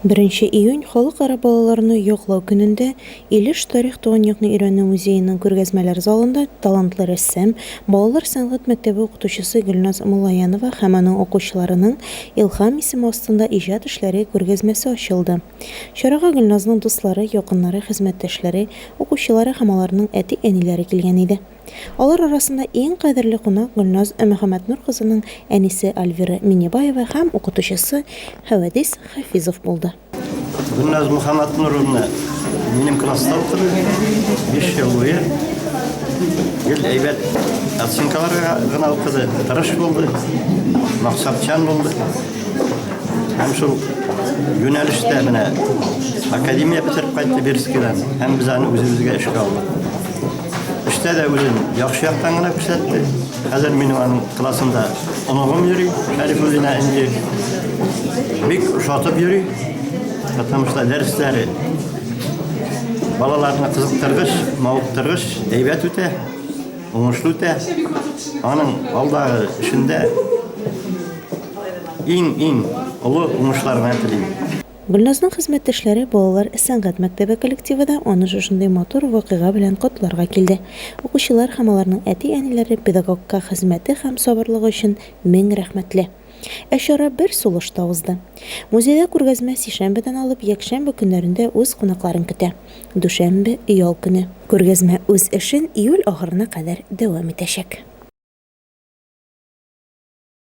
Беренче июнь, Халыкара балаларны яклау көнендә Илеш тарих туган якны өйрәнү музееның күргәзмәләр залында талантлы рәссам, балалар сәнгать мәктәбе укытучысы Гөлназ Муллаянова һәм аның укучыларының Илһам исеме астында иҗат эшләре күргәзмәсе ачылды. Чарага Гөлназның дуслары, якыннары, хезмәттәшләре, укучылары һәм аларның әти-әниләре килгән иде. Алар арасында иң кадерле кунак Гөлназ Мөхәммәтнур кызының әнисе Альвира Миннебаева һәм укытучысы Хәвәдис Хафизов булды. Гөлназ Мөхәммәтнуровна минем класста укыды, биш ел буе. Гел әйбәт оценкаларга гына укыды, тырыш булды, максатчан булды. Һәм шул юнәлештә менә академия бетереп кайтты Бирскидан һәм без аны үзебезгә эшкә алдык. Эштә дә үзен яхшы яктан гына күрсәтте. Хәзер минем аның классында оныгым йөри, Шәрифуллина Энҗе. Бик ошатып йөри. Потому что дәресләре балаларны кызыктыргыч, мавыктыргыч, әйбәт үтә, уңышлы үтә. Аның алдагы эшендә иң-иң олы уңышларны телим. Гөлназның хезмәттәшләре, балалар сәнгать мәктәбе коллективы да аны шушындый матур вакыйга белән котларга килде. Укучылар һәм аларның әти-әниләре педагогка хезмәте һәм сабырлыгы өчен мең рәхмәтле. Ә чара бер сулышта узды. Музейда күргәзмә сишәмбедән алып якшәмбе көннәрендә үз кунакларын көтә. Дүшәмбе, ял көне. Күргәзмә үз эшен июль ахырына кадәр дәвам итәчәк.